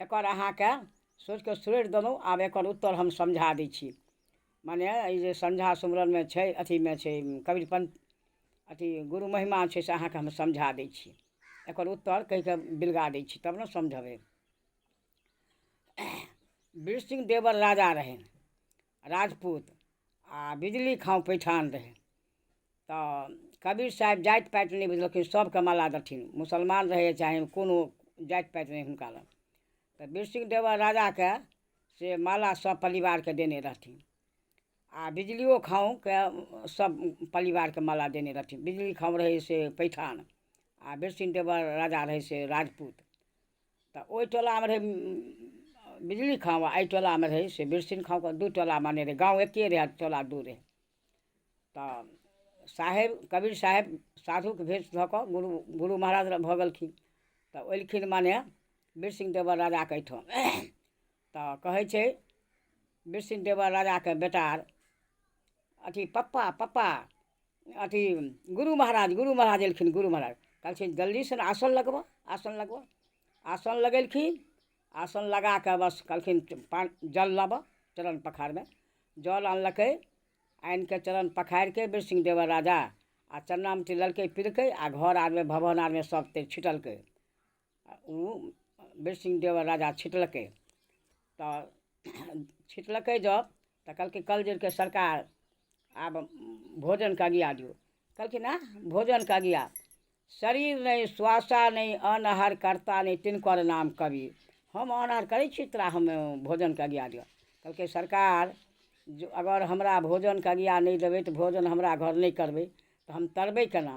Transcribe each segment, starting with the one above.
एकर अहाँके सोचिके छोड़ि देलहुँ आब एकर उत्तर हम समझा दै छी मने ई जे संझा सुमरनमे छै अथीमे छै कबीर पञ्च अथी गुरु महिमा छै से अहाँके हम समझा दै छी एकर उत्तर कहिके बिलगा दै छी तब ने समझबै वृश्चिक देवर राजा रहै राजपूत आ बिजली खाँ पैठान रहै तऽ कबीर साहेब जाति पाति नहि बुझलखिन सभके माला देथिन मुसलमान रहै चाहे कोनो जाति पाति रहै हुनका लग तऽ बिरसिंह देवर राजाके से माला सभ परिवारके देने रहथिन आ बिजलियो खाँके सभ परिवारके माला देने रहथिन बिजली खाँ रहै से पैठान आ बिरसिंह देवर राजा रहै से राजपूत तऽ ओहि टोलामे रहै बिजली खाँ आ एहि टोलामे रहै से बिरसिन खाँ कऽ दू टोला माने रहै गाँव एके रहै टोला दू रहै तऽ साहेब कबीर साहेब साधुके भेष धऽ कऽ गुरु गुरु महाराज लग भऽ गेलखिन तऽ एलखिन माने बिरसिंह देवर राजाके एहिठाम तऽ कहै छै बिरसिंह देवर राजाके बेटा अथी पप्पा पप्पा अथी गुरु महाराज गुरु महाराज एलखिन गुरु महाराज कहलखिन जल्दीसँ आसन लगबऽ आसन लगबऽ आसन लगेलखिन आसन लगा कऽ बस कहलखिन पानि जल लाबऽ चरण पखारमे जल आनलकै आनि कऽ चरण पखारि कऽ बीर सिंह देवर राजा आ चरनामे तिललकै पिलकै आ घर आरमे भवन आरमे सभ तेल छिटलकै ओ बीरसिंह देव राजा छिटलकै तऽ छिटलकै जब तऽ कहलकै कल जुगके सरकार आब भोजनके अगिया दियौ कहलखिन आ भोजनके अगिया शरीर नहि स्वासा नहि अन्न आहार करता नहि तिनकर नाम कवि हम अन्न आहार करै छी तोरा हम भोजनके अगिया दिअ कहलकै सरकार जो अगर हमरा भोजनके अगिया नहि देबै तऽ भोजन हमरा घर नहि करबै तऽ हम तरबै केना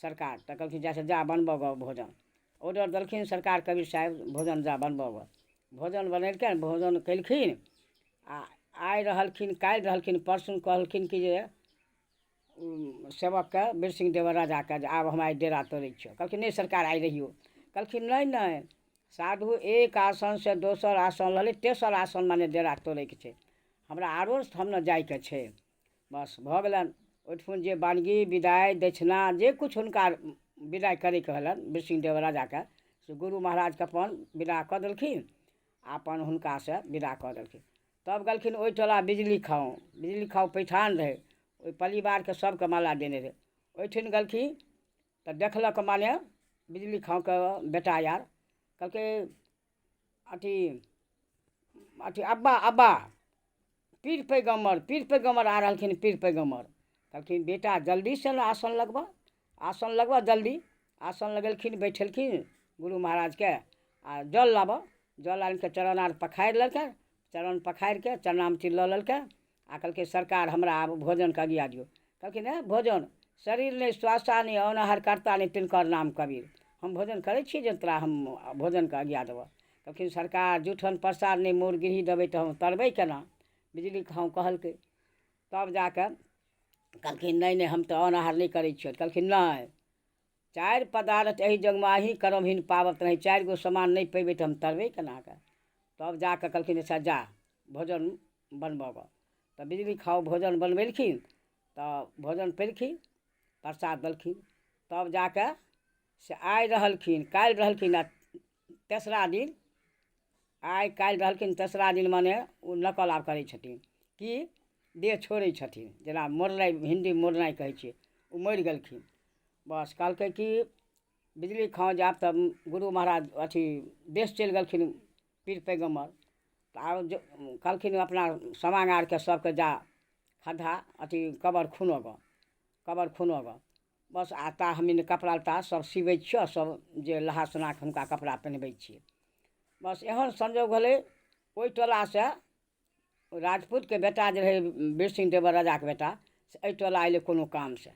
सरकार तऽ कहलखिन जा से जा बनबऽ गऽ भोजन ऑडर देलखिन सरकार कवि साहेब भोजन जा बनबऽ गऽ भोजन बनेलकनि भोजन कएलखिन आओर आइ रहलखिन काल्हि रहलखिन परसू कहलखिन कि जे ओ सेवकके वीरसिंह देवर राजाके जे आब हमरा डेरा तोड़ै छिअऽ कहलखिन नहि सरकार आइ रहिऔ कहलखिन नहि नहि साधु एक आसनसे दोसर आसन लऽ लै तेसर आसन मने डेरा तोड़ैके छै हमरा आओर हम ने जाइके छै बस भऽ गेलनि ओहिठुन जे बानगी विदाइ दक्षिणा जे किछु हुनका विदाइ करैके हलनि वृष्णिदेव राजाके से गुरु महाराजके अपन विदा कऽ देलखिन आ अपन हुनकासँ विदा कऽ देलखिन तब गेलखिन ओहि टोला बिजली खाँव बिजली खाँव पैठान रहै ओहि परिवारके सभके माला देने रहै ओहिठिन गेलखिन तऽ देखलक माने बिजली खाँवके बेटा आर कहलकै अथी अथी अब्बा अब्बा पीर पैगम्बर पीर पैगम्बर आ रहलखिन पीर पैगम्बर कहलखिन बेटा जल्दी से ने आसन लगबऽ आसन लगबऽ जल्दी आसन लगेलखिन बैठेलखिन गुरु महाराजके आ जल लाबऽ जल आनि कऽ चरण आर पखारि लेलकै चरण पखारि कऽ चरणामती लऽ लेलकै आ कहलकै सरकार हमरा आब भोजन कगिया दियौ कहलकै नहि भोजन शरीर नहि स्वास्थ्य नहि औनहर कर्ता नहि तिनकर नाम कबीर हम भोजन करै छी जे तोरा हम भोजनके आज्ञा देबऽ कहलखिन सरकार जूठन प्रसाद नहि मोर गिरही देबै तऽ हम तरबै केना बिजली खाँ कहलकै तब जा कऽ कहलखिन नहि नहि हम तऽ औनहर नहि करै छियौ कहलखिन नहि चारि पदार्थ एहि जगमे अही करमहीन पाबत रही चारि गो समान नहि पेबै तऽ हम तरबै केनाके तब जा कऽ कहलखिन अच्छा जा भोजन बनबऽ गऽ तऽ बिजली खाउ भोजन बनबेलखिन तऽ भोजन पेलखिन प्रसाद देलखिन तब जा कऽ से आइ रहलखिन काल्हि रहलखिन आ तेसरा दिन आइ काल्हि रहलखिन तेसरा दिन मने ओ नकल आब करै छथिन कि देह छोड़ै छथिन जेना मोड़नाइ हिन्दी मोड़नाइ कहै छियै ओ मरि गेलखिन बस कहलकै कि बिजली खाँ जायब तऽ गुरु महाराज अथी देश चलि गेलखिन पीर पैगम्बर तऽ आब जो कहलखिन अपना समांग आरके सभके जा खद्धा अथी कबर खुनऽ गऽ कबर खुनऽ गऽ बस आ ता हम इन्हें कपड़ा लत्ता सब सिबै छियौ सब जे नहा सुना कऽ हुनका कपड़ा पेन्हबै छियै बस एहन संजोग भेलै ओइ टोलासँ राजपूतके बेटा जे रहै बीर सिंह देवर राजाके बेटा से अइ टोला अयलै कोनो कामसँ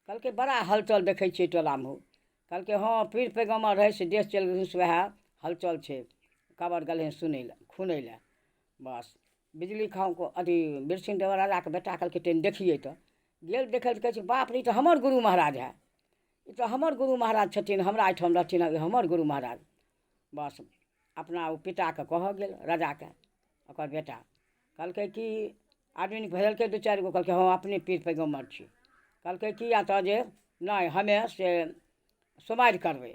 कहलकै बड़ा हलचल देखै छियै टोलामे हौ कहलकै हँ पीर पैगम्बर रहै से देश चलि गेलखिन से वएह हलचल छै कबर गेलै हन सुनै लए खुनै लए बस बिजली खाँ अथी बिरसिन देवराजाके बेटा कहलकै तनि देखिए तऽ गेल देखै लए कहै छै बाप रे ई तऽ हमर गुरु महाराज है ई तऽ हमर गुरु महाराज छथिन हमरा एहिठाम रहथिन ई हमर गुरु महाराज बस अपना ओ पिताके कहऽ गेल राजाके ओकर बेटा कहलकै कि आदमी भेजलकै दू चारि गो कहलकै हँ अपने पीर पैगम्बर छी कहलकै कि या तऽ जे नहि हमे से सोमारि करबै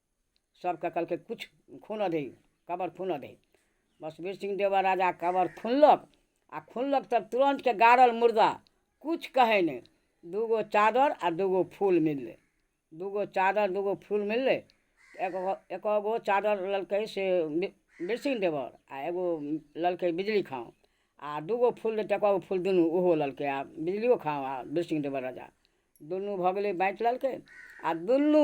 सबके कहलकै किछु खुनऽ दही कबर खुनऽ दही बसबीर सिंह देवा राजा कबर खुनलक आ खुनलक तऽ तुरन्तके गाड़ल मुर्दा किछु कहै नहि दूगो चादर आ दूगो फूल मिललै दूगो चादर दूगो फूल मिललै एगो एको गो चादर लेलकै से बीर सिंह देवर आ एगो लेलकै बिजली खाँ आ दूगो फूल देतै एको गो फूल दुनू ओहो लेलकै आ बिजलियो खाँ आ बीर सिंह देवर राजा दुनू भऽ गेलै बाँटि लेलकै आ दुनू